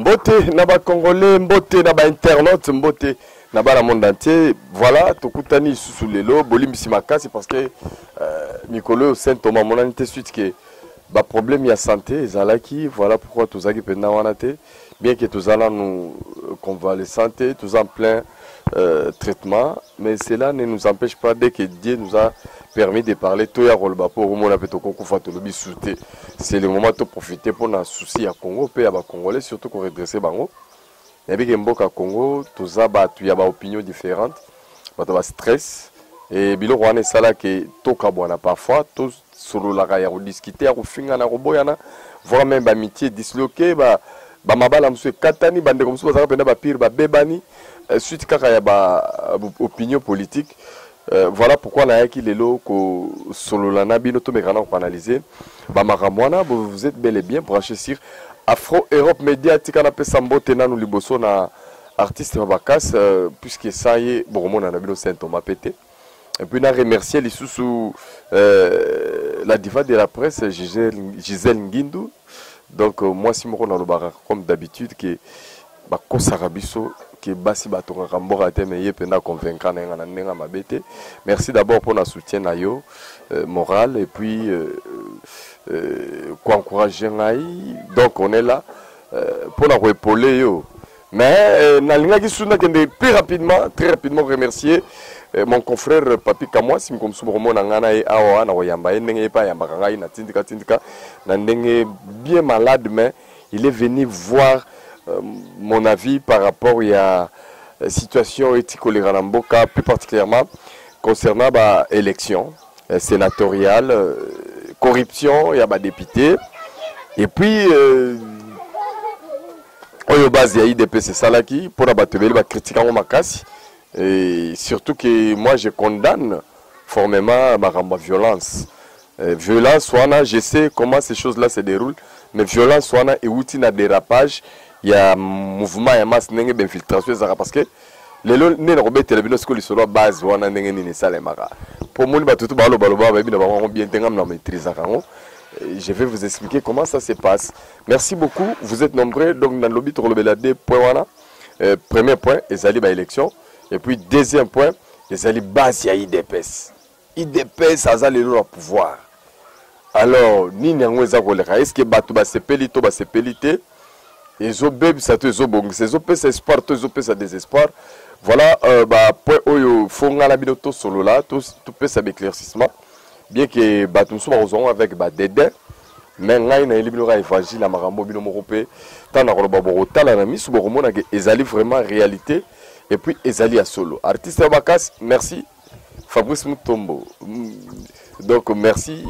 mbote na bacongolais mbote na bainternaute mbote na bana monde entier voilà tokutani lisusu lelo bolimbisi makasi parce que euh, mikolo oyo saint thomas amonani te suite ke baproblème ya santé ezalaki voilà pourquoi tozalaki mpenza wana te bien que toza nanu euh, convalescent te toza en plein euh, traitement mais cela ne nous empêche pas dès que dieu nous a permis de parler toya koloba mpo okomona mpe tokokufa tolobi su te c'est le moment toprofite mpo na souci ya congo mpe ya bacongolais surtout koredresse bango nayebi ke mboka congo toza bato ya baopinion différente bato ya bastress e biloko wana esalaki tokabwana parfois sololaka ya kodiscuter ya kofingana ya koboyana voire meme bamitie disloke ba, ba mabala mosusu ekatani bandeko mosusu bazalaka mpenza bapire babebani euh, suite kaka ya ba euh, opinion politique euh, voilà pourquoi nayaki lelo kosolola na bino tomekana na koanalyse bamakambo wana vous êtes bel et bien branché sur afro europe média tika napesa mbote nanu liboso na artiste Mabakas, euh, puisque ça y est, bon, on a saint Thomas pété. Et puis, na remercier les sous euh, la diva de la presse, Gisèle, Gisèle Ngindu. Donc, euh, moi, si je suis comme d'habitude, que bakosaka biso ke basi batongaka mboka te me ye mpenza convaincra na ye nga na ndenge ya mabe te merci d'abord mpo na soutien na yo euh, moral et puis euh, euh, koencourage ngai donc on est là euh, mpo na koepole yo Mais euh, nalingaki susu nakende très rapidement, très rapidement remercier euh, mon confrère euh, Papi Kamwa si mko mosusu bokomona ngai na ye awa na koyamba ye ndenge ye mpe ayambaka ngai na tindika tindika na ndenge bien malade mais il est venu voir euh, mon avis par rapport ya euh, situation eti koleka na mboka plus particulièrement concernant ba élection euh, sénatoriale euh, corruption ya ba député et puis euh, oyo base ya idps esalaki mpona bato ebele bakritike yango makasi et surtout que moi je condamne formellement makambo ya violence euh, violence wana je sais comment ces choses là se déroule mais violence wana euti na dérapage ya mouvement ya masse ndenge bainfiltration ezalaka parce que lelo nde nakobetela bino sikoyo lisolo ya base wana ndenge nini esalemaka mpo omoni bato tu balobaloba bayebi na bango yango bien te ngai na maîtrisaka yango je vais vous expliquer comment ça se passe Merci beaucoup, vous êtes nombreux donc na lobi tokolobela deux points wana. Euh, premier point ezali ba élection et puis deuxième point ezali base ya IDPS. IDPS aza lelo na pouvoir. Alors nini yango eza koleka? Est-ce que bato basepeli to basepeli te? ezobebisa to ezobongisa ezopesa espoir to ezopesa désespoir voilà euh, bapoint oyo fo ngai na bino tosolola topesa baéclaircissement bien ke bato mosusu bakozwa yango avec badede mais ngai nayeli bino kaka évangile ya makambo bino moko mpe ntango nakoloba bokotala na miso bokomona ke ezali vraiment réalité et puis ezali ya solo artiste ya makasi merci fabrice mutombo mm, donc merci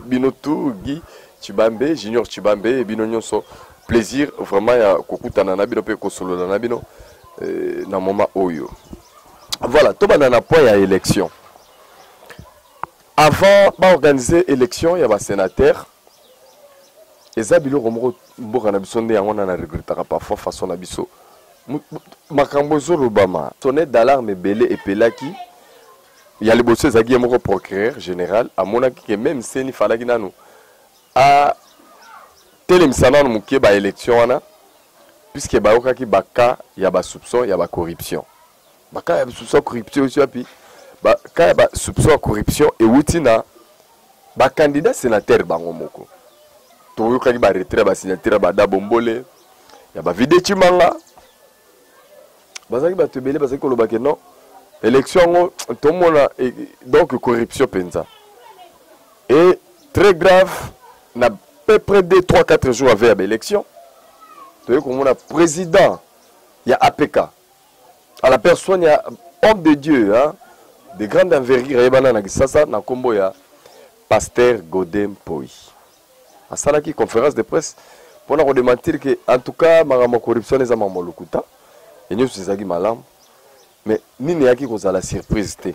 bino tout guy chibambe junior chibambe bino nyonso plaisir vraiment ya kokutana na bino mpe kosolola na bino eh, na moment oyo voilà tobanda na point ya élection Avant ba organiser election ya ba senateurs eza biloko moko mboka na biso nde yango na na regrettaka parfois façon na biso makambo ezolobama sonnet d'alarme ebele epelaki ya liboso ezalaki ye moko procureur général amonaki ke meme seni falaki nanu atelemisa nanu moke baélection wana puisque bayokaki baka ya basoupçon ya bacorruption ba cas ya soupçon corruption esi wapi ba cas ya ba soupçon ya corruption ewuti na ba candidat sénateur bango moko toyokaki ba retrait ya ba signature ya bada bombole ya ba vide chimanga bazalaki bato ebele bazalaki koloba ke non élection yango tomona e, donc corruption mpenza et très grave na peu près 2 3 4 jours ave ya baélection toyei komona président ya apk à la personne ya homme de Dieu hein, de grande envergure ayebana na Kisasa na kombo ya pasteur Gode Mpoyi asalaki conférence de presse mpo na kodementir ke en tout cas makambo ya corruption eza makambo ya lokuta e nyonso ezalaki malamu mais nini eyaki kozala surprise te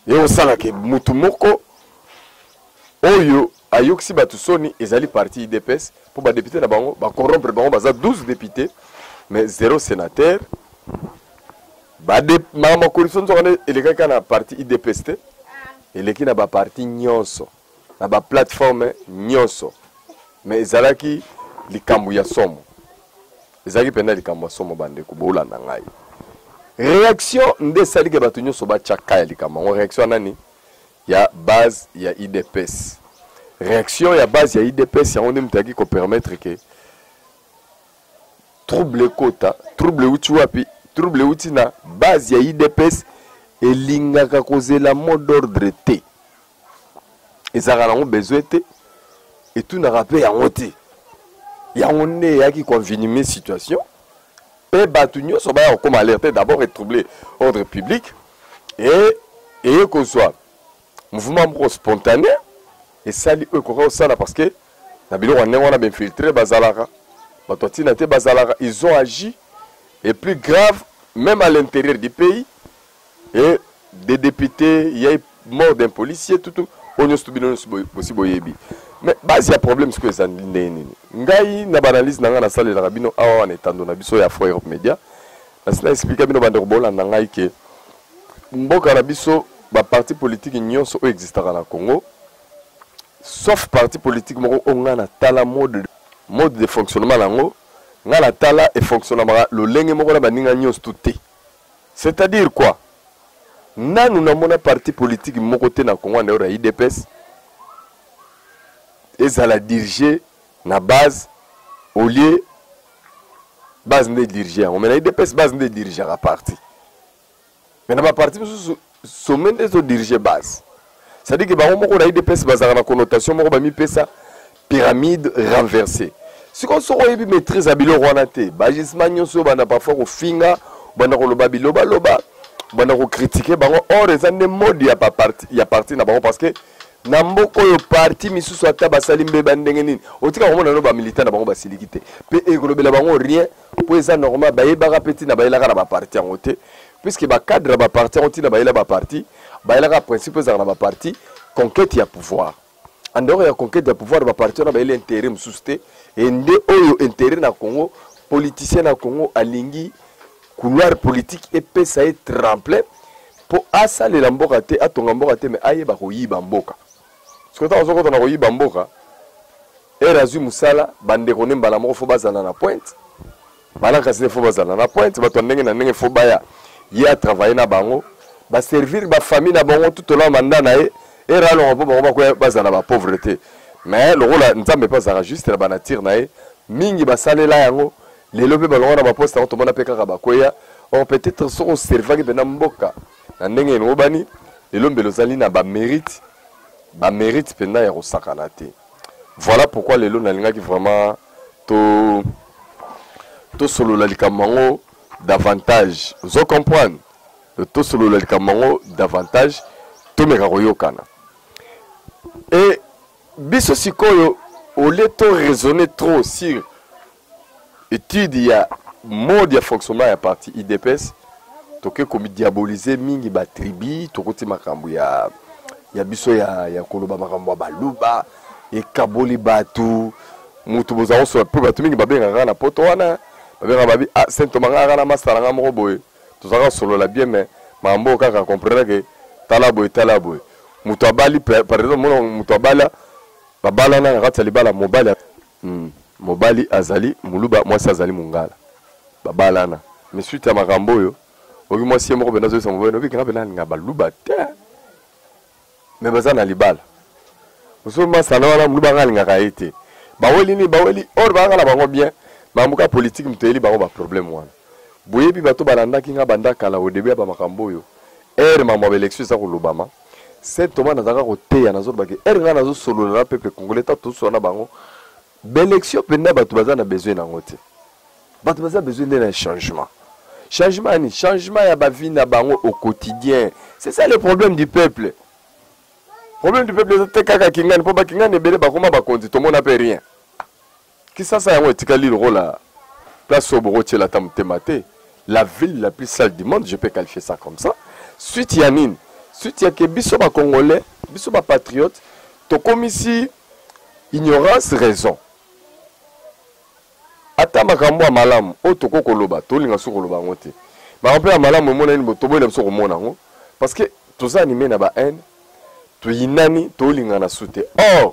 Ekosala ke mutu moko oyo ayokisi batu soni ezali parti idps mpo ba depute na bango ba corrompre bango baza 12 depute mais zero senateur makambo ya corruption nzoka nde elekaki na parti idps te eleki na ba parti nyonso na ba plateforme nyonso mais ezalaki likambo ya somo ezalaki mpenza likambo ya somo bandeko bolanda ngai réaction nde esali ke bato nyonso batya ka ya likambo yango réaction ya nani ya base ya idps réaction ya base ya idps yango nde moto ayaki kopermettre ke trouble ekota trouble euti wapi trouble euti na base ya idps elingaka kozela mot d'ordre te ezalaka nango besoin te etunaka mpe yango te yango nde eyaki koenvenime situation mpe bato nyonso baya kokoma alerte te d'abord etrouble ordre public e eye kozwa mouvement moko spontané esali oyo ekoka kosala parce que na biloko ya ndenge wana bainfiltre bazalaka bato ya ntina te bazalaka ils ont agi et plus grave même à l'intérieur du pays et des députés ya mort d'un policier tout tout oyo nyonso bino nyonso bosi boyebi mais base ya problème sikoyo eza ndenge nini ngai na baanalyse na ngai nasalelaka bino awa wana etando na biso ya fo europe média nasi na explika bino bandeko bolanda ngai ke mboka na biso baparti politike nyonso oyo existaka na congo sauf parti politique moko oyo ngai natala mode, mode de fonctionnement na yango ngai natala efonctionnemaka lolenge moko na baninga nyonso tu te C'est à dire quoi? Nanu na mona parti politique moko te na Congo en dehors ya udps ezala dirige na base au lieu base nde dirige yango mais na udps base nde dirigeaka parti mais na ba parti mosusu Sommet nde ezo diriger base. C'est-à-dire que bango moko na UDPS bazalaka na connotation moko bamipesa pyramide renversée. Sikoyo soki oyebi maîtrise ya biloko wana te, bagisement nyonso oyo banda parfois kofinga, banda koloba bilobaloba, banda kokritike bango or eza nde mode ya baparti ya parti na bango parce que na mboka oyo parti misusu ata basali mbeba ndenge nini otika komona no bamilitant na bango basiliki te mpe ekolobela bango rien mpo eza normal bayebaka mpe ntina bayelaka na baparti yango te puiske bacadre ya baparti yango ntina bayela baparti bayelaka principe ezalaka na baparti conquete ya pouvoir andehors ya conquete ya pouvoir baparti wana bayeli intérêt mosusu te e nde oyo intérêt na congo politicien na congo alingi couloir politique epesa ye tremplin mpo asalela mboka te atonga mboka te me ayeba koyiba mboka Sikoyo ntango azokota na koyiba mboka, ere azwi mosala, bandeko nde mbala moko fo bazala na pointe, balankasi nde fo bazala na pointe, bato ya ndenge na ndenge fo baya, ye atravaille na bango, baservir bafamille na bango tout ola manda na ye, ere alonga mpo bango bakoya bazala bapauvre te. Mais lokola Nzambe mpe azalaka juste na banature na ye, mingi basalela yango lelo mpe balonga na baposte yango, tomona mpe kaka bakweya or peut-etre soki oservaki mpenza mboka Na ndenge elongobani, lelo mbele ozali na ba merite, ba merite mpenza ya kosakana te. Voilà pourquoi lelo nalingaki vraiment to tosolola likambo yango davantage. Ozo comprendre? Tosolola likambo yango davantage, tomeka koyokana. Et biso sikoyo au lieu to raisonner trop sur etude ya mode ya fonctionnement ya parti udps toke komidiabolize mingi batribi tokoti makambo ya, ya biso ya, ya koloba makambo ya baluba ekaboli bato motu bozala kosola mpe bato mingi babengaka kaka na poto wana babengaka babi ah, saint toma ngai kaka na masala ngai moko boye tozalaka kosolola bien me makambo oyo kaka komprenake tala boye tala boye moto abali par exemple mona moto abala babalana na kati ya libala mobali Hum mobali azali muluba mwasi azali mungala babalana mais suite ya makambo oyo oki mwasi ye moko pena azolisa mobali noki kenga pena alinga baluba te mais baza na libala oso masana wana muluba anga alingaka ye te baweli nini baweli or baanga na bango bien makambo ka politiki moto eyeli bango baproblème wana boyebi bato balandaki nga banda kala au début ya bamakambo oyo ere makambo ya baelection eza kolobama Saint Thomas nazalaka koteya nazoloba ke ere ngai nazosolola na peuple congolais ta tosola na bango baélection mpenza bato baza na besoin na yango te bato baza besoin nde na changement changement yani changement ya bavie na bango au quotidien c'est ça le problème du peuple problème du peuple eza te kaka kingani mpo bakingani ebele bakoma bakonzi tomona mpe rien Kisasa yango etikali lokola place oyo boko tiela ata motema te. La ville la plus sale du monde, je peux qualifier ça comme ça. Suite ya nini? Suite ya ke biso ba congolais, biso ba patriotes tokomisi ignorance raison. Ata makambo ya malamu oyo toko koloba, tolinga biso koloba yango te. Makambo ya malamu emonani bo toboyi na biso komona yango parce que toza anime na ba haine toyinani tolingana su te or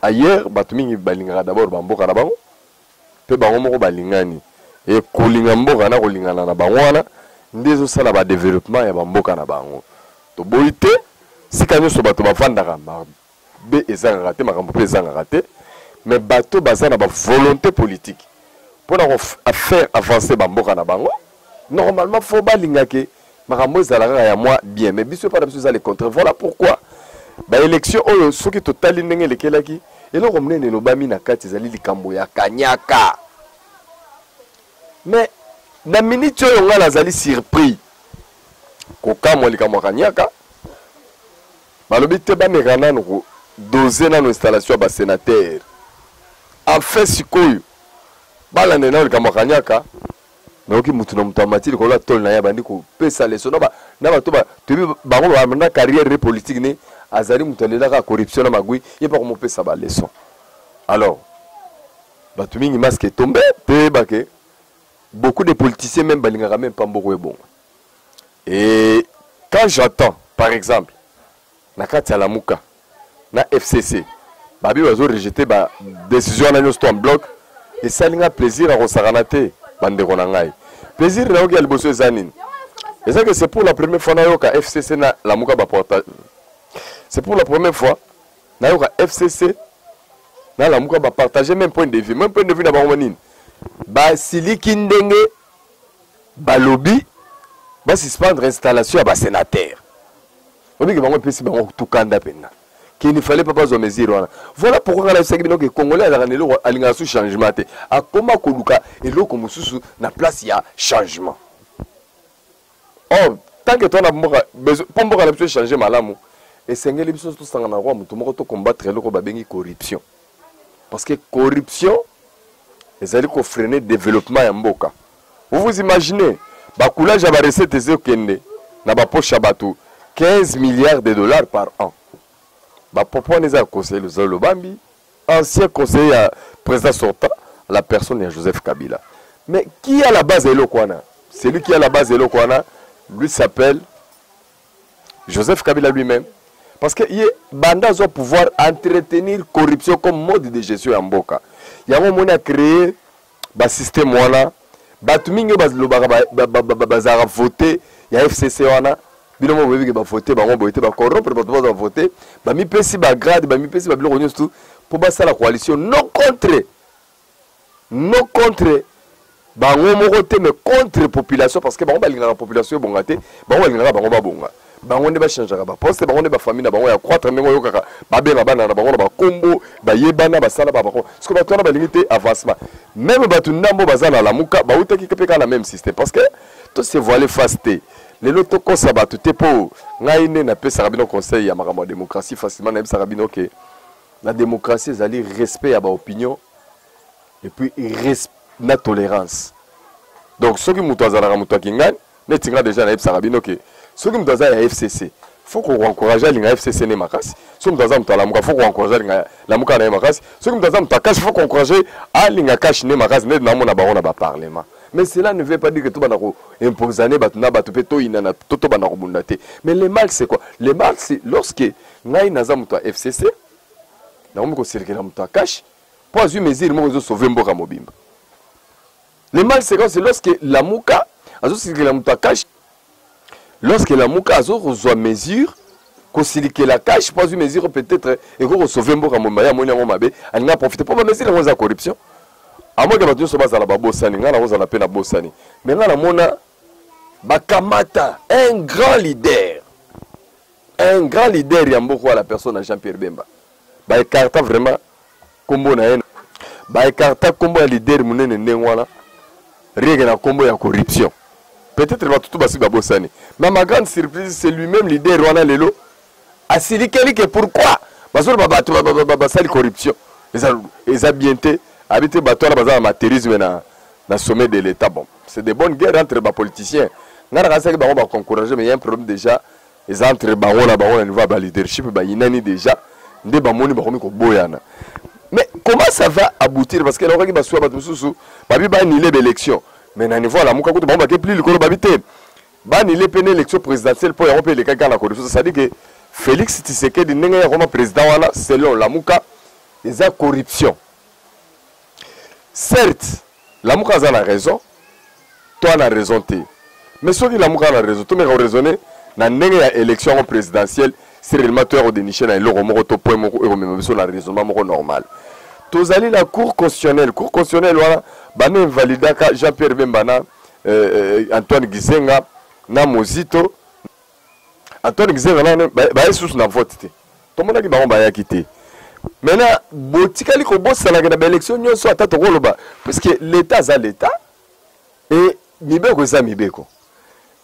ailleurs bato mingi balingaka d'abord bamboka na bango mpe bango moko balingani e kolinga mboka na kolingana na bango wana nde ezosala badeveloppement ya bamboka na bango toboyi te sika nyonso bato bafandaka mabe ezangaka te makambo mpe ezangaka te mais bato baza na bavolonté politique mpo na kofaire avancer bamboka na bango normalement fo balingake makambo ezala kaka ya mwa bien mais biso epai na biso eza le contraire voilà pourquoi baélection oyo soki totali ndenge elekelaki eloko monene elobami na kati ezali likambo ya kanyaka mais na miniti oyo ngai nazali surpris kokamwa likambo ya kanyaka balobi te bameka nano kodose nano installation ya basenatere enfin sikoyo balande nano likambo ya kanyaka nayoki mutu na mutu amati likolo ya tole na ye abandi kopesa leso na bato toyebi bango banda carrière ne politique ne azali mutu alelaka corruption na magui ye mpe akomopesa baleson alors bato mingi masque etombe mpe oyeba ke beaucoup de politiciens meme balingaka meme mpa mboko ebonga et quand j'attends par exemple na kati ya lamuka na fcc babi bazo rejete ba decision wana nyonso to en bloc esali nga plaisir ya kosakana te bandeko na ngai plaisir nayoki ya liboso eza nini eza ke c'est pour la première fois nayoka fcc na lamuka baporta c'est pour la première fois nayoka fcc na lamuka bapartage même point de vue même point de vue na bango nini basiliki ndenge balobi basuspendre installation ya basénateur oyebi ke bango epesi bango kutu kanda mpenza qu'il ne fallait pas bazwa mesure wana voilà pourquoi nga nayebisaki bino ke congolais azalaka na eloko alingaka su changement te akoma koluka eloko mosusu na place ya changement or tant que towana mboka mpo mboka na biso echange malamu esengeli biso tosangana kwa motu moko tocombattre eloko babengi corruption parce que corruption ezali kofrene développement ya mboka Vous vous imaginez ba coulage ya ba recette ezokende na ba poche ya bato 15 milliards de dollars par an. Ba propos wana eza ya conseiller Luzalo Lobambi, ancien conseiller ya président sortant, la personne ya Joseph Kabila. Mais qui a la base ya eloko wana? Celui qui a la base ya eloko wana, lui s'appelle Joseph Kabila lui-même. Parce que ye banda azwa pouvoir entretenir corruption comme mode de gestion ya mboka. Yango omoni a créer ba système wana batu mingi bazalaka ba, ba, ba, ba, ba, ba, vote ya fcc wana bino moko boyebi ke bavote bango boye te bacorrompre bato baza bavote bamipesi bagrade bamipesi babiloko nyonso tu mpo basala coalition non contre non contre bango moko te mais contre population parce que bango balingaka population ebonga te bango balingaka bango babonga bango nde bachangeaka baposte bango nde bafamille na bango ya croître ndenge oyokaka babenga bana na bango na bakombo bayebana basala babako siko bato wana balingi te avancement meme bato ndambo baza na lamuka bautaki mpe kaka na meme système parce que to se voile face te lelo tokosa bato te mpo ngai nde napesaka bino conseil ya makambo ya démocratie facilement nayebisaka bino ke la démocratie ezali respect ya baopinion et puis na tolérance donc soki moto azalaka moto ya kingani neti nga deja nayebisaka bino ke soki moto aza ya fcc faut koencourage alinga fcc ne makasi soki moto aza moto alamuka faut koencourage alinga lamuka na ye makasi soki moto aza moto akashi faut koencourage alinga kashi ne makasi ndeti namona bango na baparlement mais cela ne veut pas dire que tobanda koimposane bato na bato mpe toyinana to tobanda kobunda te mais le mal c'est quoi le mal c'est lorsque ngai naza moto ya fcc nakomi koselekela moto akashi mpo azwi mesure moko ezosauve mboka mobimba Le mal séquence c'est lorsque Lamuka azosilikela moto ya cash lorsque Lamuka azokozwa mesure kosilikela cash mpo azwi mesure peut-être ekoki kosauve mboka mobimba ye amoni yango mabe alingi aprofite mpo bamesure yango eza corruption amoke bato nyonso bazala babosani ngai nakozala mpe nabosani me ngai namona bakamata un grand leader un grand leader ya mboka ya la personne ya jean pierre bemba baecarta vraiment kombo na ye ba ecarta kombo ya leader munene ndenge wana rieke na kombo ya corruption peut-être bato tu basi babosani mais ma grande surprise c'est lui-même leader wana lelo asilikeli ke pourquoi bazoloba bato basali corruption eza, eza bien te abi te bato wana baza na materisme na, na sommet de l'état bon c'est de bonne guerre entre bapoliticien ngai nakasaki bango baconcourage mais ya un problème déjà eza entre bango na bango na niveau ya ba leadership bayinani déjà nde bamoni bakomi koboyana mais comment ça va aboutir parce que elakaki basuwa bato mosusu babi banile baélection mais na niveau ya lamuka kutu bango bake plus likolo babi te banile mpe na élection présidentielle mpo yango mpe elekaki kaka na corruption c'est-à-dire que félix tshisekedi ndenge ye akoma président wana selon lamuka eza corruption Certes, Lamuka aza na raison, to ana raison te. Mais soki Lamuka ana raison, tomeka ko raisonner na ndenge ya election yango presidentielle, si réellement toya ko dénicher na eloko moko to point moko oyo ekomema biso na raisonnement moko normal. Tozali na cour constitutionnelle, cour constitutionnelle wana bana invalidaka Jean-Pierre Bemba na euh, euh, Antoine Gizenga na Mozito Antoine Gizenga nano baye susu na vote te tomonaki bango bayaki te maintenant botikali kobosanaka na baélection nyonso ata tokoloba puisque l'état aza l'état e mibeko eza mibeko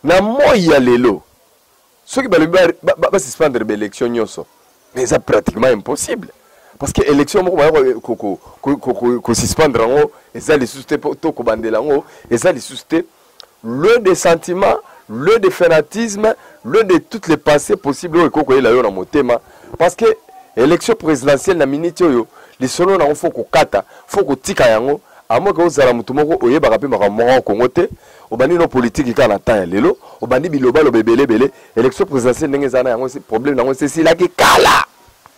na moi ya lelo soki balobi basuspendre baélection nyonso mais eza pratiquement impossible parce que élection moko baya kosuspendre yango eza lisusu te to kobandela yango eza lisusu te lieu de sentiment lieu de fanatisme lieu de toutes les pensées possibles oyo ekoki koyela yo na motema parce que élection présidentielle na minute oyo lisolo nango fo kokata fo kotika yango amoke ozala motu moko oyebaka mpe makambo moko ya kongo te obandi no politiki kaka na temps ya lelo obandi bilobaloba ebele ebele élection présidentielle ndenge ezala na yango problème na yango esi esilaki kala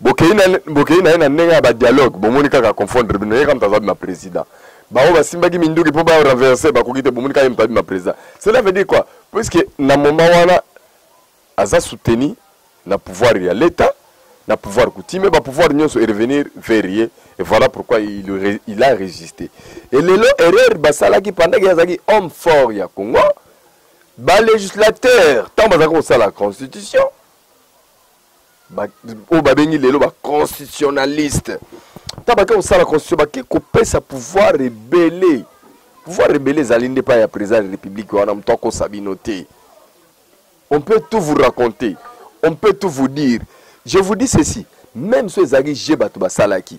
bokei na bokei na ye na ndenge ya ba dialogue bomoni kaka confondre bino ye kaka moto aza bima président baoyo basimbaki minduki mpo ba renverse bakoki te bomoni kaka ye moto abima président cela veut dire quoi puisque na moment wana aza soutenu na pouvoir ya l'état na pouvoir coutume ba pouvoir nyonso e revenir vers ye et voilà pourquoi il, il a résisté et lelo erreur basalaki pendant que azalaki homme fort ya congo ba législateur ntango bazalaka kosala constitution oyo babengi lelo ba constitutionnaliste ntango bake kosala constitution bake kopesa pouvoir ebele pouvoir ebele ezali nde epai ya président ya république wana moto akosa bino te on peut tout vous raconter on peut tout vous dire je vous dis ceci même so ezalaki je bato basalaki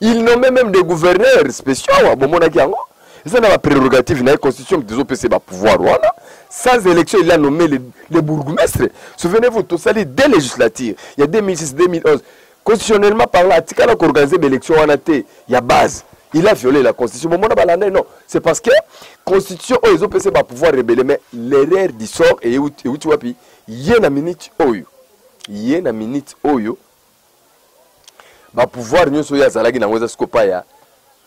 il nomme même des gouverneurs spéciaux awa bomonaki yango eza na baprerogative na ye constitution moto ezopesa ye bapouvoir wana sans élection il a nommé le, le bourgmestre souvenez-vous tosali deux législature ya 2006 2011 constitutionnellement parlant atikala koorganize baélection wana te ya base il a violé la constitution bomona balanda non c'est parce que constitution oyo ezopesa ye bapouvoir rebele mais l'erreur du sort euti wapi ye na minute oyo ye na minute oyo ba pouvoir nyoso oyo azalaki nango eza siko pa ya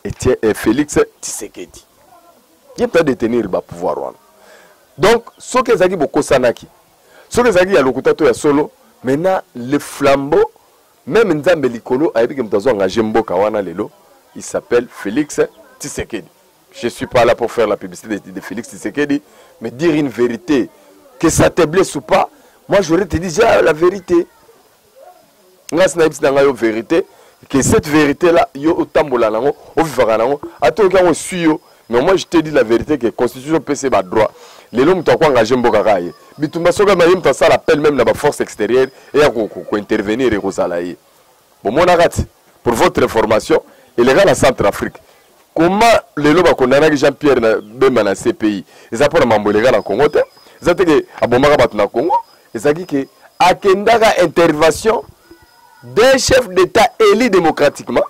eh, Felix Tshisekedi ye peut détenir ba pouvoir wana donc soki ezalaki bokosanaki soki ezalaki ya lokuta to ya solo maintenant le flambeau meme nzambe likolo ayebi ke moto azo engage mboka wana lelo il s'appelle Felix Tshisekedi je suis pas là pour faire la publicité de, de Felix Tshisekedi mais dire une vérité que ça te blesse ou pas moi j'aurais te dit déjà la vérité ngai sinayebisi na ngai yo verité que cette vérité là yo otambola nango ovivaka nango ata oyoki yango esui yo mais moi je te dis la vérité que constitution epesi badroit lelo moto ako engage mboka kaka ye bitumba soki maye moto asala appel meme na baforce extérieure eya kointervenir ekozala ye bomonaka ti pour votre information eleka na centre afrique koma lelo bakondanaki jean pierre na bemba na cpi eza mpo na mambo eleka na congo te eza te ke abomaka bato na congo ezalaki ke akendaka intervention d'un chef d'état élu démocratiquement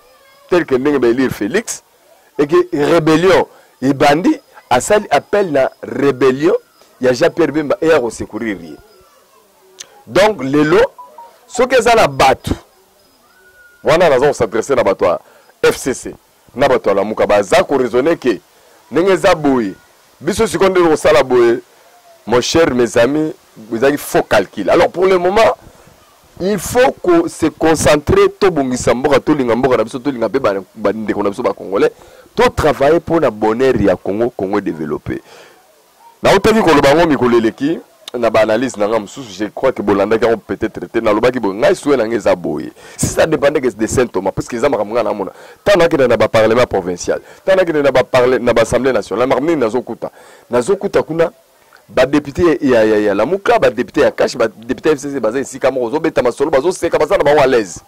tel que ndenge baélire félix et que rébellion ebandi asali appel na rébellion ya jean pierre bemba eya kosecourir ye donc lelo soki eza na bato wana naza kosadresse na bato ya fcc na batu ya lamuka baza ko raisonner que ndenge eza boye biso sikoyo nde tokosala boye mon cher mes amis ezalaki faux calcul alors pour le moment il faut ko se concentrer tobongisa mboka tolinga mboka na biso tolinga mpe bandeko na biso bacongolais to travailler mpo na bonheur ya congo congo développe Nautaki koloba yango mikolo eleki na ba analyse na nga mosusu je crois que bolandaki yango peut-être te nalobaki boye ngai souhait na nga eza boye si ça dépendait que de saint thomas parce que eza makambo ngai namona ntango nakende na baparlement provincial ntango nakende na baparle na baassemblée nationale makambo nini nazokuta nazokuta kuna badepute ya, ya, ya lamuka badepute ya kashi badepute ya fcc baza esika moko ozobeta masolo bazoseka baza na bango à l'aise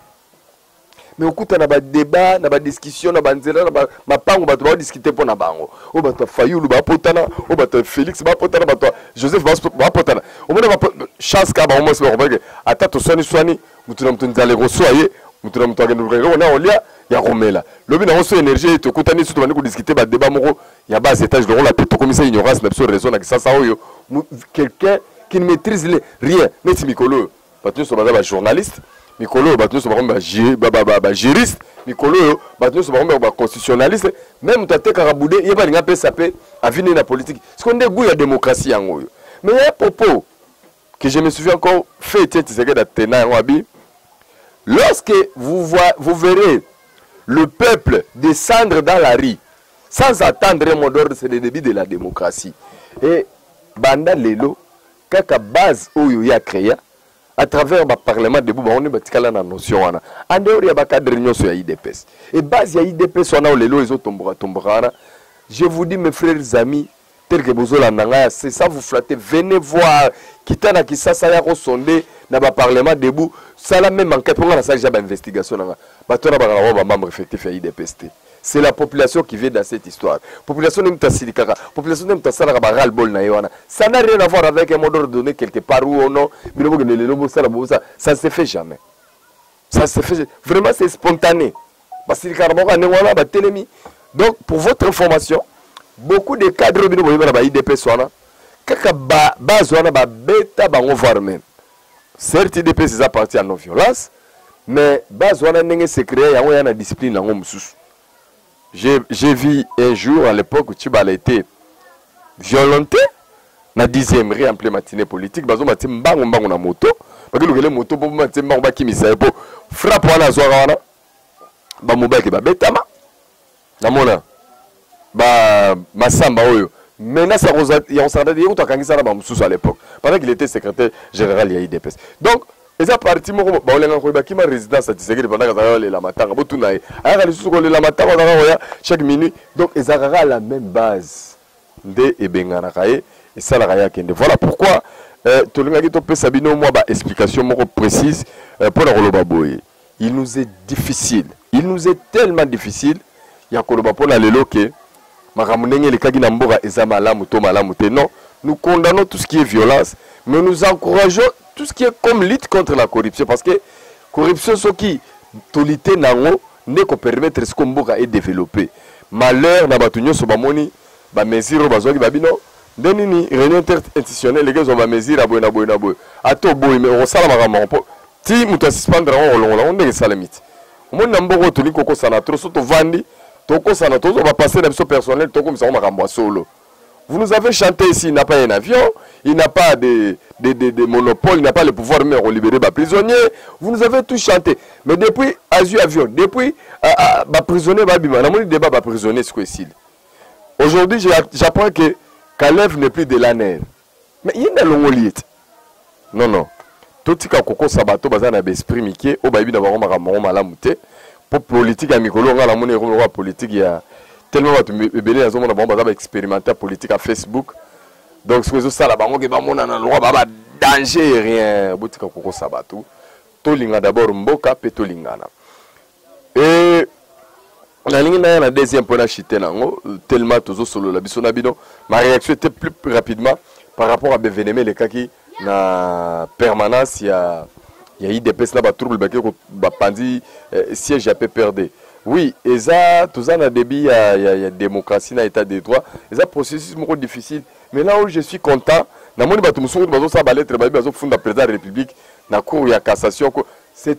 mais okuta na badebat na badiscussion na banzela na mapango bato baodiscute mpo na bango oyo bato ya fayulu bapotana oyo bato ya félix bapotana bato ya joseph bapotana omona chance kaka bango mwasi bakompreke ata toswaniswani motu na moto nzala ekoswa ye motu na moto akende luka eloko na olia ya komela lobi nango so énergie ete okutani so tobandi kodiscute badeba moko ya bas étage lokola mpe tokomisa ignorance na biso raison na kisasa oyo quelqu'un qui ne maîtrise rien neti mikolo oyo bato nyonso baza bajournaliste mikolo oyo bato nyonso bakomi bajuriste mikolo oyo bato nyonso bakomi baconstitutionnaliste meme moto atekaka bude ye balingi apesa mpe avini ye na politiki siko nde gout ya démocratie yango oyo mais ya propos que je me souviens encore fait etienne tisekedi atena yango abi lorsque vous, voyez, vous verrez le peuple descendre dans la rue sans attendre un mot d'ordre c'est le début de la démocratie et banda lelo kaka base oyo ye acrea à travers ba parlement debout bango nde batikala na notion wana en dehors ya ba cadre nyonso ya idps et base ya idps wana oyo lelo ezotomboka tomboka wana je vous dis mes frères amis tel que bozolanda ngai ase ça vous flatte venez voir kita na kisasa ya kosonde na ba parlement debout sala meme enquête mpo ngai nasalisa ba investigation na ngai bato wana bakaka bango ba membre effectif ya idps te c'est la population qui vient dans cette histoire population nde mutasilikaka population nde mutasalaka ba ras bol na ye wana ça n'a rien à voir avec un mot d'ordre donné quelque part ou non bino bokende lelo bosala bosa ça ne se fait jamais ça se fait vraiment c'est spontané basilikaka bango ya ndenge wana batelemi donc pour votre information beaucoup de cadre bino boyeba na ba idps wana kaka base wana babeta bango voir même Certes udps eza parti ya non violence mais base wana ndenge secret yango ya na discipline yango mosusu. J'ai vu un jour à l'époque Tshibala était violenté na dixième rue en plein matinée politique bazo mati mbango mbango na moto bakilukele moto mpo mati mbango bakimisa ye mpo frappe wana azwaka wana bamobaki babetama namona ba masamba oyo menace ya kosakata ye kutu akangisa na bamosusu à l'époque pendant qu'il était secrétaire général ya idps donc eza parti moko baolengaka koyeba kima résidence ya tisekedi pendant azalaka kolela matanga botuna ye ayaka lisusu kolela matanga azalaka koya chaque minute donc ezalaka kaka la même base nde ebenganaka ye esalaka ye akende voilà pourquoi euh, tolingaki topesa bino mwa baexplication moko précise mpo euh, na koloba boye il nous est difficile il nous est tellement difficile ya koloba mpo na lelo ke makambo ndenge elekaki na mboka eza malamu to malamu te non nous condamnons tout ce qui est violence mais nous encourageons tout ce qui est comme lutte contre la corruption parce que corruption soki tolite na yango nde kopermettre siko mboka edeveloppe malheur na bato nyonso bamoni bamesure oyo bazwaki babino nde nini réunion interinstitutionnelle ekezwa bamesure ya boye na boye na boye ata oboyi me okosala makambo yango mpo ti moto asuspendre yango kolongola yango ndenge esalemi ti omoni na mboka oyo tolingi kokosana tro so tovandi tokosana tozwa bapasse na biso personnel tokomisa yango makambo ya solo vous nous avez chanté ici il n'a pas un avion il n'a pas de, de, de, de monopole il n'a pas le pouvoir même ya kolibere baprisonnier vous nous avez tout chanté mais depuis azwi avion depuis uh, uh, baprisonnier babima namoni débat baprisonnier siko esili aujourd'hui j'apprends que kalev n'est plus de laner Mais yende alongoli ye ti. Non non. Totika kokosa bato baza na besprit mike oyo bayebi na bango makambo yango malamu te mpo politike ya mikolo ngai namoni ekomi lokola politike ya tellement bato ebele nazomona bango baza baexperimente ya politike ya facebook donc soki ezosala bango ke bamonana lokola baa badanger rien botika kokosa bato tolinga d'abord mboka mpe tolingana nalingi naya na deuxième mpo na chite na yango tellement tozosolola biso na bino ma réaction était plus rapidement par rapport à beveneme elekaki na permanence ya ya idps na batrouble bake bapanzi eh, siège ya pprd oui eza toza na début ya, ya, ya démocratie na état de droit eza processus moko difficile mais là où je suis content namoni bato mosusu bazosala balettre babi bazofunda président ya république na cour ya cassation c'est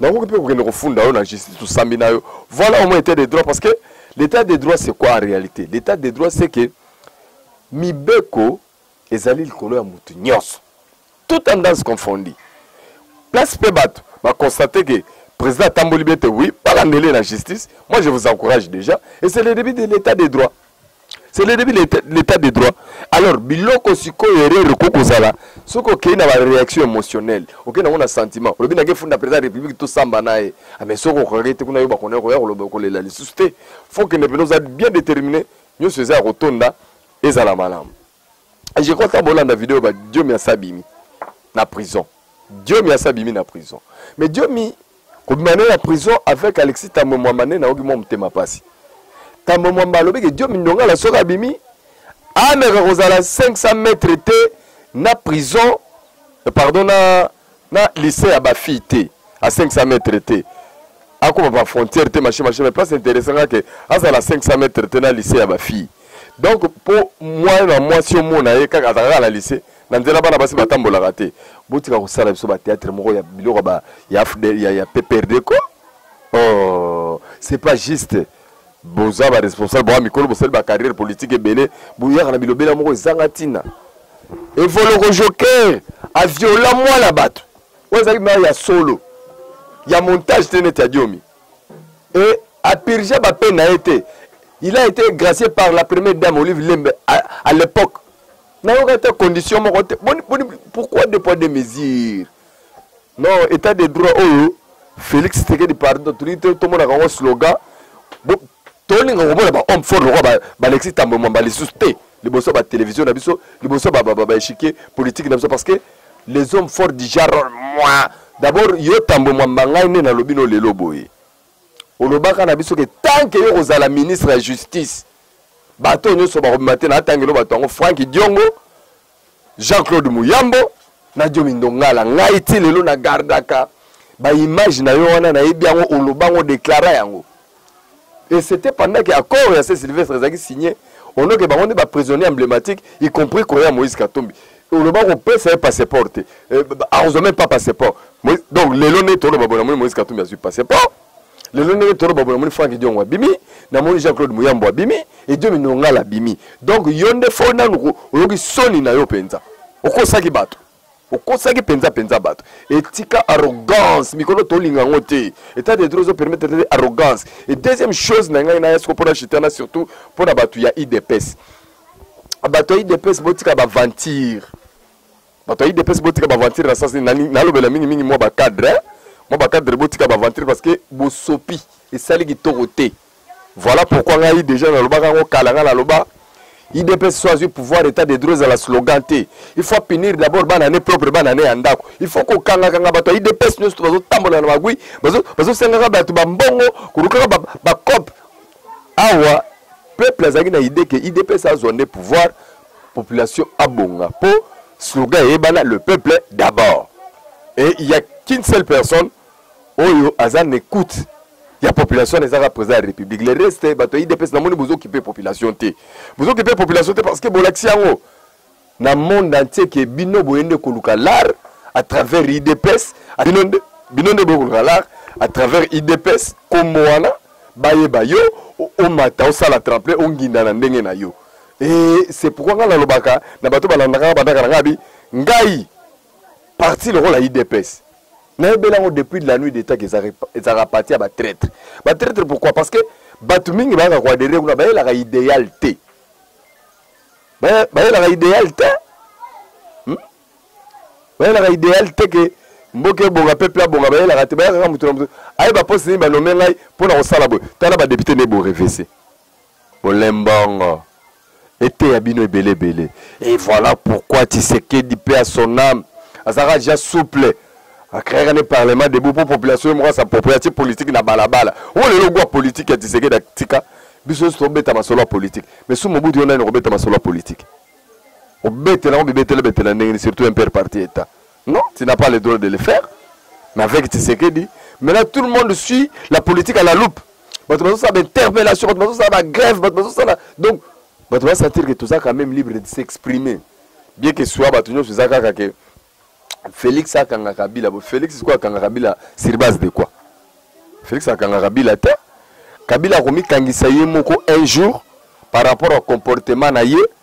nakoki mpe kokende kofunda yo na justice tosambi na yo voilà au moins état de droit parce que l'état de droit c'est quoi en réalité l'état de droit c'est que mibeko ezali likolo ya moto nyonso tout tendance confondi place mpe bato baconstate que président atamboli bien te oui balandele na justice moi je vous encourage déjà et c'est le début de l'état de droit c'est le début de l'état- l'état de droit alors biloko sikoyo erreur ekoki kozala soki okei na baréaction émotionnelle okei nango na sentiment olobi nake funda président ya république tosamba na ye Ah, mais soki okokaki te kuna yo bakona koya koloba kolela lisusu te fo kende mpenza oza bien déterminé nyonso eza ya kotonda ezala malamu je crois kaka bolanda video ba diomi asi abimi na prison diomi asi abimi na prison mais diomi kobima ne na prison avec alexis tambwe mwamba nde nayoki mwa motema mpasi tambwe mwamba alobi ke diomi ndongala soki abimi ameka kozala 500 mètre te na prison pardon na na lycée ya ba fille te à 500 mètres te akoma ba frontière te machin machin mais place intéressant nga ke azala 500 mètres te na lycée ya ba fille donc po moyen na mwasi omona ye kaka azalaka na lycée na nzela bana basi batambolaka te botika kosala biso ba théâtre moko ya biloko ya, ya, ya, ya pprd ko oh, c'est pas juste boza ba responsable boa mikolo bosali ba carrière politique ebele boyaka na bilobela moko ezanga ntina evoloko joker aviola mwana bato oyo ezalaki mare ya solo ya montage te neti ya diomi e apirge bape na ye te il a été gracié par la première dame olive lembe à, à l'époque nayoka te condition moko te boni boni pourquoi deux poids deux mesures Non, état de droit oyo Félix Tshisekedi pardon, tolingi te tomonaka yango slogan. Tolinga komona ba homme fort lokola ba Alexis Tambwe Mwamba lisusu te liboso ba télévision na biso, liboso ba ba ba échiquier politique na biso parce que les hommes forts du genre moi d'abord yo Tambwe Mwamba ngai nde nalobi no lelo boye. Olobaka na biso ke tant que yo kozala ministre ya justice bato nyonso bakobima te na atangelo bato yango Frank Diongo Jean-Claude Muyambo na Jomi Ndongala ngai ti lelo na gardaka ba image na yo wana nayebi yango oloba yango déclara yango et c'était pendant que accord ya se Sylvestre ezalaki signé onoke bango nde ba prisonnier emblématique y compris koya Moïse Katumbi oloba kopesa ye passeport te eh, akozwa même pas passeport donc lelo nde toloba bona moi Moïse Katumbi azwi passeport lelo ndenge toro babo namoni frank diongo abimi namoni jean claude muyambo abimi edio minongala abimi donc yo nde fo nanu oyoki soni na yo mpenza okosaki bato okosaki mpenza mpenza bato etika arrogance mikolo tolinga yango te etat de droit ezopermettre te arrogance e deuxième chose na ngai naya siko mpona chitana surtout mpona bato ya idps bato ya idps botika baventure bato ya idps botika baventure na sens nini nalobela mingimingi mwa bacadre eh? mwa bacadre botika baventure parce que bosopi esali kitoko te voilà pourquoi ngai déjà nalobaka yango kala ngai naloba idps so azwi pouvoir état de droit ezala slogan te il faut apinir d'abord bana ne propre bana ne ya ndako il faut kokangakanga bato ya idps nyonso to bazotambola na magui bazosengaka bato bambongo kolukaka bacope awa peuple azalaki na idée ke idps azwa nde pouvoir population abonga po slogan eyebana le peuple d'abord et il y a qu'une seule personne oyo aza na écoute ya population wana ezaka président ya république le reste bato ya idps namoni bozokipe population te bozokipe population te parce que bolakisi yango na monde entier ke bino boye nde koluka lar à travers idps bino nde bino nde boye koluka lar à travers idps kombo wana bayeba yo omata osala tremple onginda na ndenge na yo Et c'est pourquoi nga nalobaka na bato balandaka nga bandaka na nga bi ngai parti lokola idps nayebeli yango depuis de la nuit d'état ezalaka parti ya batraitre batraitre pourquoi parce que bato mingi bayaka koadere kuna bayelaka idéal te bayelaka idéal te hmm? bayelaka idéal te ke mboka ebonga peuple abonga bayelaka te bayaka kaka moto na moto ayeba poste nini banome ngai mpo na kosala boye tala badepute nde borevese Bolembongo eteya bino ebele ebele et voilà pourquoi Tshisekedi paix à son âme azalaka déjà souple akreaka ne parlement debout mpo population ye moko asaproprie atie politike na balabala o lelo gwa politike ya Tshisekedi atika biso nyonso tobeta masolo ya politike mais su mobutu yo nani okobeta masolo ya politike obetela yango bibetele betela ndenge nini surtout impere parti etat Non, tu n'as pas le droit de le faire. Mais avec Tshisekedi, maintenant tout le monde suit la politique à la loupe. bato bazosala bainterpellation bato bazosala bagrève bato bazosala donc bato basentir ke toza quand même libre de s'exprimer bien que soit bato nyonso eza kaka ke félix akanga kabila bo félix sikoyo akanga kabila sur base de quoi félix akanga kabila te kabila akomikangisa ye moko un jour par rapport au comportement na ye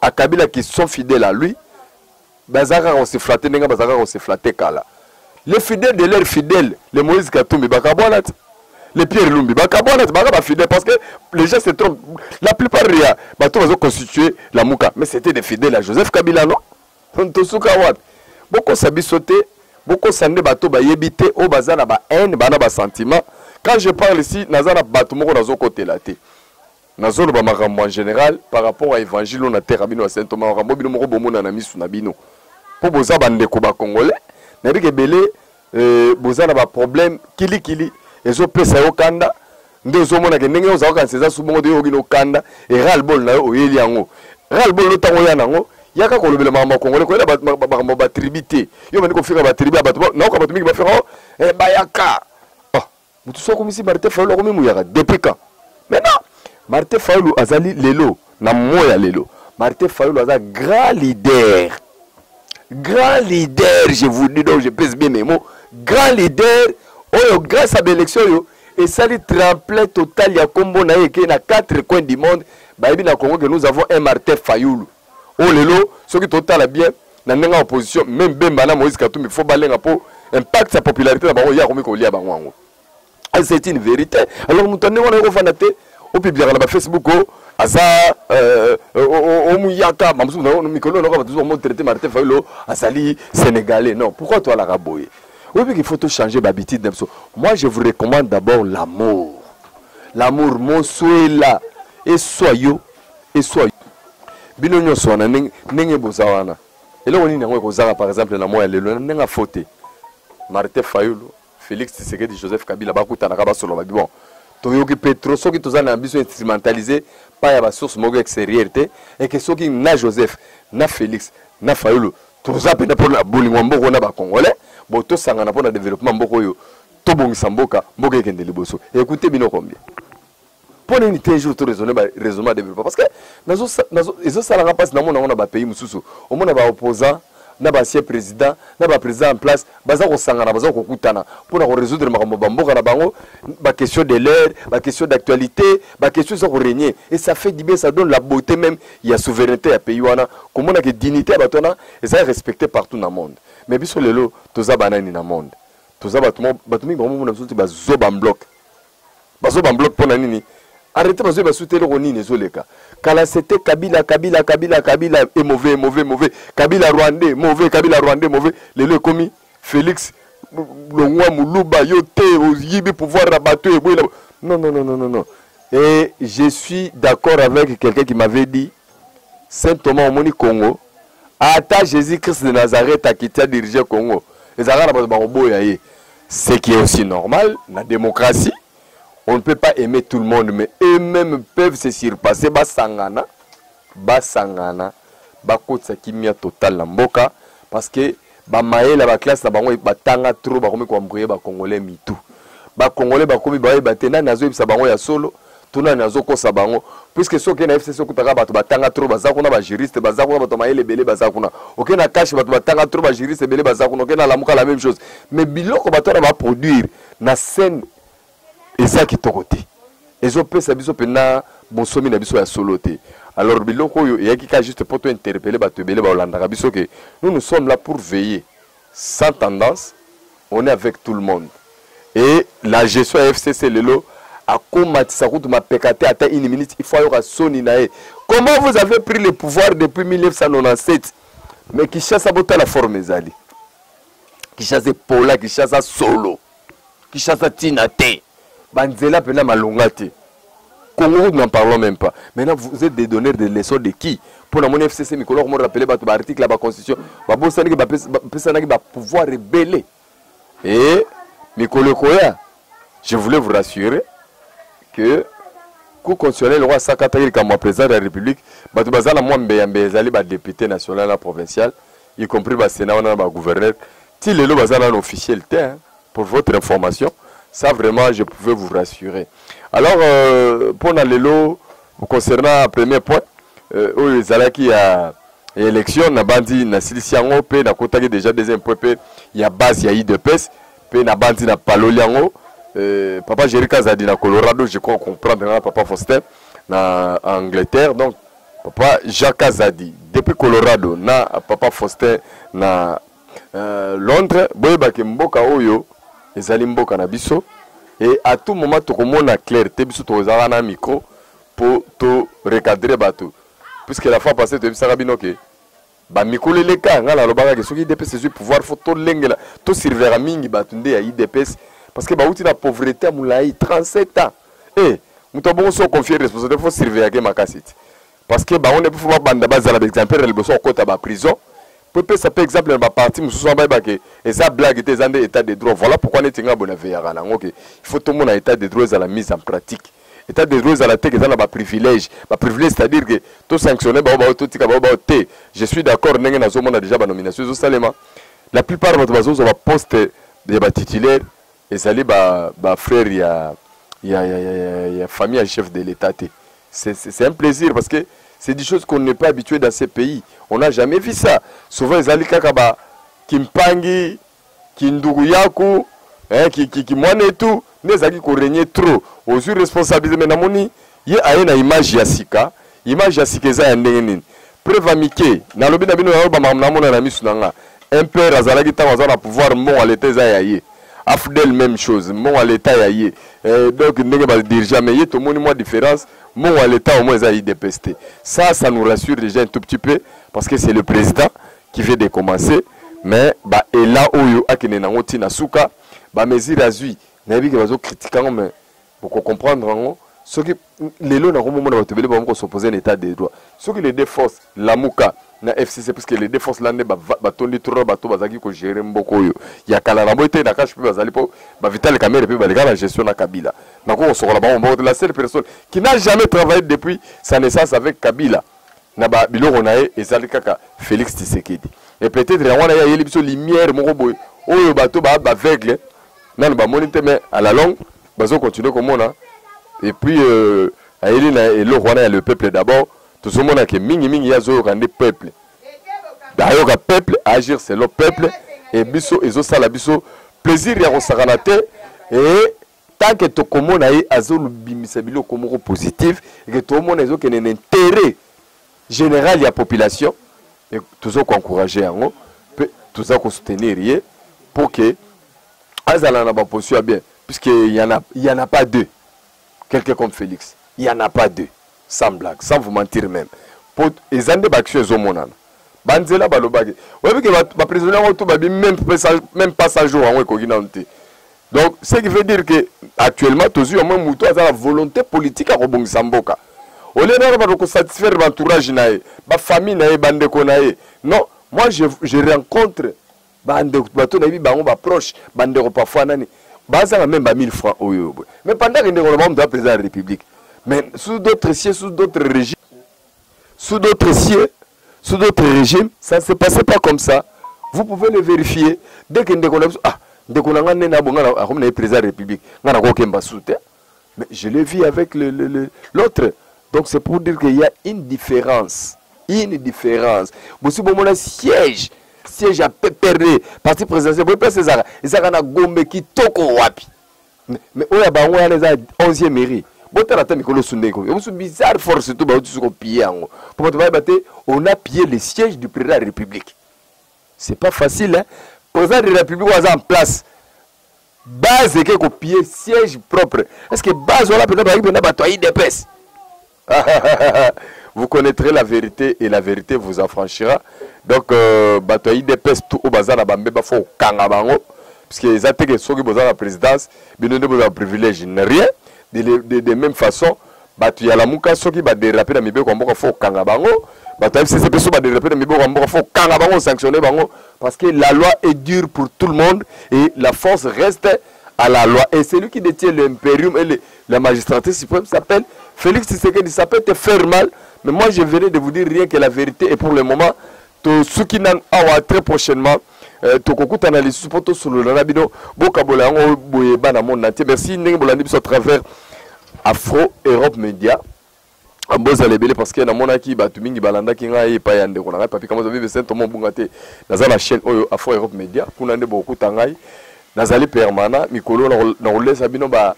A Kabila qui sont fidèles à lui, baza kaka se flatter ndenge baza kaka se flatter kala. Les fidèles de leurs fidèles, les Moïse Katumbi bakabwana te. Les Pierre Lumbi bakabwana te, baka ba fidèles parce que les gens se trompent. La plupart ya bato bazo constituer la muka, mais c'était des fidèles à Joseph Kabila non? Tosuka wapi? Bokosa biso te, bokosa nde bato bayebi te oyo baza na ba haine, bana ba sentiment. Quand je parle ici, naza na bato moko nazokotela te. Nazo loba makambo en general par rapport à evangile oyo na terre bino ya Saint Thomas makambo bino moko bomona na misu na bino. Po boza ba ndeko ba congolais na bike belé euh, boza na ba problème kili kili ezo pesa yo kanda nde ozo mona ke ndenge oza kanisa eza subongo de yogi no kanda et ras bol na yo oyeli yango ras bol lo tango ya nango yaka kolobela makambo ya congolais koyela makambo ba tribu te yo bandi kofika ba tribu ya bato nayoka bato mingi bafika o oh, eh, bayaka Mutu so akomisi Martin Fayulu akomi muyaka depuis quand? Maintenant Martin Fayulu azali lelo na moya lelo. Martin Fayulu aza grand leader. Grand leader, je vous dis donc je pèse bien mes mots. Grand leader oyo grâce à l'élection oyo esali tremplin total ya kombo na ye ke na quatre coins du monde bayebi na Congo que nous avons un Martin Fayulu. oyo oh, lelo soki totala bien na ndenge ya opposition meme bemba na moïse katumbi faut balenga mpo impact ya popularité na bango ye akomi kolia bango yango ah, c'est une vérité alors moto ya ndenge wana yokofanda te opibliaka na bafacebook o oh, aza euh, euh, omuyaka bamosusu mikolo eloko bato zomo traité martin fayulo azali sénégalais non pourquoi toalaka boye oyebi qu'il faut tochange bahabitude na biso moi je vous recommande d'abord l'amour l'amour mosuela eswa yo eswa bino nyonso wana ndenge boza wana eloko nini yango ekozaka par exemple na mwa ya lelo ndenge afo te martin fayulu félix tisekedi joseph kabila bakutanaka basoloba bon toyoki mpe trop soki toza na biso instrumentalise pa ya basource moko extérieure te eke soki na joseph na félix na fayulu toza mpenza mpona bolingo ya mboka na bacongolais bo tosangana mpo na développement mboka oyo tobongisa mboka mboka ekende liboso ekute bino combien mpo na nini te un jour to raisonne ba raisonnement ya développement parce que nazo nazo ezosala nga mpasi namona yango na bapays mosusu omona baopposant na baancien président na baprésident en place baza kosangana baza kokutana mpo na korésoudre makambo ya bamboka na bango baquestion de l'air baquestion d'actualité baquestion eza koregne et ça fait du bien ça donne la beauté même ya souveraineté ya pays wana komona ke dignité ya bato wana eza respecté partout na monde mais biso lelo toza banani na monde toza bato mo- bato mingi bakomona biso ti bazoba mbloke bazo ba bloc pona nini arrete bazo ba sute eloko nini ezo leka kala c'était kabila kabila kabila kabila et mauvais mauvais mauvais kabila rwandais mauvais kabila rwandais mauvais lelo ekomi Felix longwa muluba yo te oyibi pouvoir na bato eboyela non non non non non et je suis d'accord avec quelqu'un qui m'avait dit Saint Thomas omoni Congo ata Jesus Christ de Nazareth akiti a diriger Congo ezalaka na bato bakoboya ye ce qui est aussi normal na démocratie on ne peut pas aimer tout le monde mais eux-mêmes peuvent se surpasser basangana basangana bakotisa kimia total na mboka parce que ba mayele ba classe na bango batanga trop bakomi ko embrouiller ba congolais mitu ba congolais bakomi bayeba te nani azoyebisa bango ya solo to nani azokosa bango puisque soki na fcc okutaka bato batanga trop baza kuna bajuriste baza kuna bato mayele ebele baza kuna oke na kashe bato batanga trop bajuriste ebele baza kuna oke na lamuka la même chose mais biloko bato wana baproduire na scène eza kitoko te ezopesa biso mpenza bonsomi na biso ya solo te alors biloko oyo eyaki kaka juste mpo tointerpele bato ebele baolandaka biso ke nous nous sommes là pour veiller sans tendance on est avec tout le monde et la gestion ya fcc lelo akomatisa kutu mapeka te ata une minute il faut ayoka soni na ye comment vous avez pris le pouvoir depuis 1997 mais kinshasa botala forme ezali kinshasa epola kinshasa solo Kishasa tina te. Banzela pena malonga te. Congo route n'en parlons même pas. Maintenant vous êtes des donneurs de leçons de qui Pour la mon FCC mikolo ko rappeler ba ba article ba constitution ba bosani ke ba pesa na ba pouvoir rebelle. Et mikolo koya je voulais vous rassurer que cour constitutionnelle oyo asakataki likambo ya président de la république bato baza na mwa mbeyambeya ezali badepute national na provincial y compris ba Sénat wana na ba gouverneur ti lelo baza nano officiel te hein, pour votre information ça vraiment je pouvais vous rassurer alors euh, mpo na lelo concernant premier point euh, oyo euh, ezalaki ya ya élection nabandi nasilisi yango mpe nakotaki déjà deuxième point mpe ya base ya idps mpe nabandi na paloli yango euh, papa jerika azali na colorado je crois comprendre na papa faustin na angleterre donc Papa Jacques Azadi depuis Colorado na Papa Faustin na euh, Londres boyeba ke mboka oyo ezali mboka na biso et à tout moment tokomona clair te biso tokozala na micro po to recadrer bato puisque la fois passée toyebisaka bino ke Ba mikolo eleka nga nalobaka ke soki idps ezwi pouvoir faut tolengela tosurveillaka mingi bato nde ya idps parce que bauti na pauvrete ya molai 37 ans e eh, moto ya bongo so oconfie responsabilité faut surveillaka ye makasi ti parce que bango nde mpo babanda bazala baexemplaire liboso kokota baprison mpo epesa mpe exemple na baparti mosusu wana bayeba ke eza blague te eza nde état de droit voilà pourquoi neti nga bona veyaka na yango ke il faut tomona état de droit ezala mise en pratique etat de droit ezala te eza na ba privilège ba privilège c'est à dire que to sanctionner ba ba to tika ba ba te je suis d'accord ndenge nazo mona déjà ba nomination zo salema la plupart bato bazo zo ba poste ya ba titulaire ezali ba ba frère ya ya ya ya, ya, ya famille ya chef de l'état te c'est c'est un plaisir parce que c'est des choses qu'on n'est pas habitué dans ces pays on n'a jamais vu ça souvent ezali kaka ba kimpangi kinduku yaku eh, ki, ki, ki mwana etu nde ezalaki korenye trop ozwi responsabilité mais namoni ye aye na image ya sika image ya sika eza ya ndenge nini preva mike nalobi na bino nayo bamakambo namona na misu na nga impere azalaki ntango aza na pouvoir mbongo ya leta eza ya ye afdel même chose mbongo ya leta ya ye eh, donc ndenge badirigea mais ye tomoni mwa différence mbongo ya leta omoi eza ya idps te ça ça nous rassure déjà un tout petit peu parce que c'est le président qui veut de commencer mais ba ela oyo akende nango ti na suka ba mesure azui nayebi ke bazo critique yango mais boko comprendre yango soki lelo na komomona bato ebele bango kosoposer na état de droit soki les deux forces lamuka na fcc puisque les deux forces la nde batondi trop na bato bazalaki kogere mboko oyo ya kala na boye te na kashe mpe bazali mpo bavitale kamere mpe baleka na gestion na kabila nako kosokola bango mboko te la seule personne qui n'a jamais travaillé depuis sa naissance avec kabila na ba biloko na ye ezali kaka Felix Tshisekedi et peut-être yango wana ye ayeli biso lumière moko boye oyo bato ba baveugle nanu bamoni te mais à la longue bazo continuer komona et puis euh, ayeli na eloko wana ya le peuple d'abord tozomona ke mingi mingi ye azoyoka nde peuple ayoka peuple agir selon peuple e biso ezosala biso plaisir ya kosakana te e tant que tokomona ye azolobimisa biloko moko positive eke toomona ezokende na intérêt général ya population toza koencourage yango mpe toza kosoutenir ye mpo ke azala na baposition ya bien puisque yana pas deux quelqu'un comme félix yana pas deux Sans blague, sans vous mentir meme. Po eza nde ba action ezo monana. Ba nzela ba lobaki. Oyebi ke ba prisonniers yango tout ba bi même même pas 100 jours yango ekoki nanu te. Donc ce qui veut dire que actuellement tozui mwe mutu aza na volonté politique ya kobongisa mboka. Au lieu d'avoir ba satisfaire l'entourage na ye, ba famille na ye, ba ndeko na ye. Non, moi je, je rencontre bande bato nayebi bango ba proche bandeko parfois nani bazanga meme ba 1000 francs oyo oyo boye mais pendant que ndeko na bango moto ya président ya république mais sous d'autres cieux sous d'autres régimes sous d'autres cieux sous d'autres régimes ça ne se passait pas comme ça vous pouvez le vérifier dès que ndeko na biso ah ndeko na ngai nene abonga akomi na ye président ya république ngai nakokemba su te Mais je l'ai vu avec le, le, le, l'autre. Donc c'est pour dire qu'il y a une différence. Une différence. Bosi bomona siège, siège à pépéré, parti présidentiel, boye place ezaka, ezaka na Gombe kitoko wapi. Mais, mais oyo ya bango wana eza 11e mairie. Botala ata mikolo sunde ko. Bosu bizarre force surtout ba otu ko piller yango. Pour bato bayeba te, on a pillé le siège du président de la République. C'est pas facile hein. Président de la République oyo aza en place. base eke kopie siège propre est ce que base wana mpenza bazalaki mpenza bato ya idps vous connaîtrez la vérité et la vérité vous affranchira donc euh, bato ya idps tu oyo baza na bambeba fo kokanga bango parce que eza te ke soki boza na présidence bino nde bozala privilège na rien de, de, de même façon Batu ya lamuka soki ba derape na mibeko ya mboka faut kanga bango. Batu ya FCC pe soki ba derape na mibeko ya mboka faut kanga bango sanctionner bango parce que la loi est dure pour tout le monde et la force reste à la loi et celui qui détient l'imperium et le, la magistrature suprême s'appelle Félix Tshisekedi ça peut te faire mal mais moi je venais de vous dire rien que la vérité et pour le moment tosuki nanu awa très prochainement eh, tokokutana lisusu mpo tosolola na bino bokabola yango boye bana monde entier merci ndenge bolandi biso à travers afro europe media ah, bozala ebele parce que namonaki bato mingi balandaki ngai epai ya ndeko na ngai papi kamoza bibe saint tomo obunga te naza na chaîne oyo afro europe media kuna nde bokokuta ngai nazali permanent mikolo nakolesa bino ba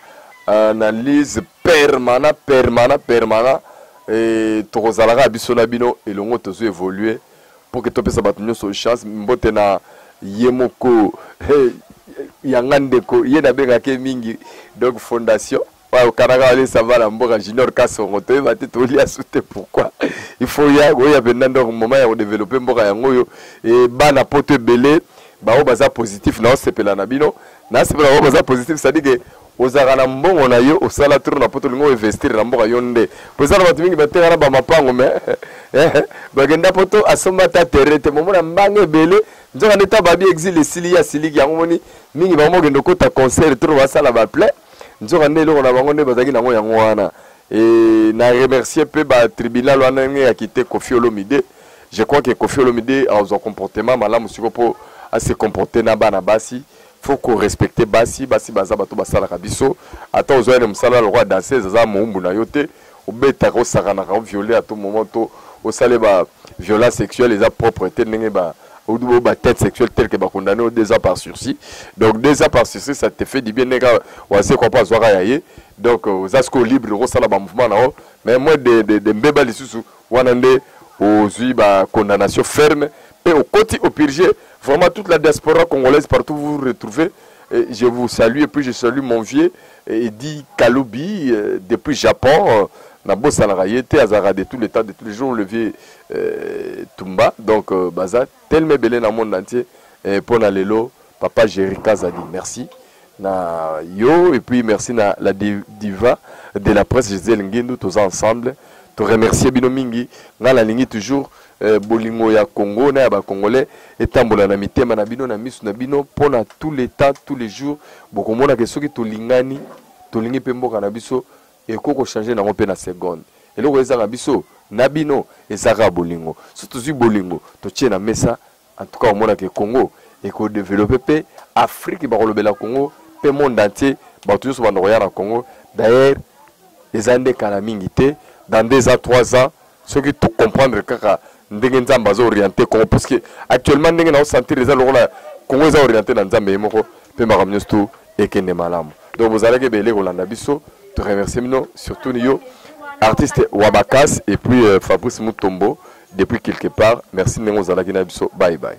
euh, analyse permana permana permana e, tokozalaka ya biso na bino elongo tozo évoluer mpo ke topesa bato nyonso chance mbote na ye moko hey, yanga ndeko ye nabengaka ye mingi donc fondation okanaka walesa bana mboka junior kasongo toyeba te tolia su te pourquoi il faut ya oya mpenza donc moment ya kodevelope mboka yango oyo e bana poto ebele baoyo baza positif naosepela na bino nasepela baoyo baza positif sadike Ozalaka na mbongo na yo osala trop na poto olingi o investir na mboka yo nde po eza na bato mingi bateka na bamapango me bakenda poto asomba ata terre te momona mbanga ebele nzoka nde ta babi exil esili ye asiliki yango moni mingi bango mokende okota concert trop basala baple nzoka nde eloko na bango nde bazalaki nango yango wana e na remercier mpe batribunal wana ndenge ya kite kofi olomide je crois que kofi olomide azwa comportement malamu siko mpo ase comporte na bana basi faut ko respecter basi basi baza bato basalaka biso ata ozwa ene mosala lokola danseuse aza moumbu na yo te obetaka osakanaka oviole ato moment to osale ba violence sexuelle eza propre te ndenge ba ou ba tête sexuelle telle que ba condamné au deux ans par sursis donc deux ans par sursis ça te fait du bien ndenge wase kwa pas zwaka ya ye donc oza siko libre ko sala ba mouvement na yo mais moi de de, de mbeba lisusu Wana nde ozui ba condamnation ferme pe okoti au purge vraiment toute la diaspora congolaise partout vous vous retrouvez je vous salue et puis je salue mon vieux Eddy Kalubi euh, depuis Japon euh, na bosanaka ye te azalaka de tous les temps de tous les jours le vieux euh, Tumba donc euh, baza tellement ebele na monde entier euh, mpo na lelo Papa Jerry Kazadi, merci na yo et puis merci na la diva de la presse Gisèle Ngindu, tous ensemble. To remercier bino mingi, nga na lingi toujours euh, bolingo ya Congo na ya ba Congolais etambola na mitema na bino na misu na bino pona tous les temps, tous les jours bokomona ke soki tolingani, tolingi pe mboka na biso eko ko changer nango pe na seconde. Eloko ezanga biso na bino ezaka bolingo. Soki tozwi bolingo, totie na mesa En tout cas, omona que Congo et ko développer pe Afrique ba kolobela Congo pe monde entier ba tous ba ndoya na Congo. D'ailleurs, les andes kala mingi te dans deux ans, trois ans, ceux qui tout comprendre kaka ndenge nzamba zo orienter Congo parce que actuellement ndenge na sentir les lokola Congo est orienté dans nzamba yemoko pe makamnyo tout et que ne malamu. Donc vous allez que belé kolanda biso, te remercier mino surtout yo artiste Wabakas et puis euh, Fabrice Mutombo. depuis quelque part merci ndenge ozalaki na biso bye bye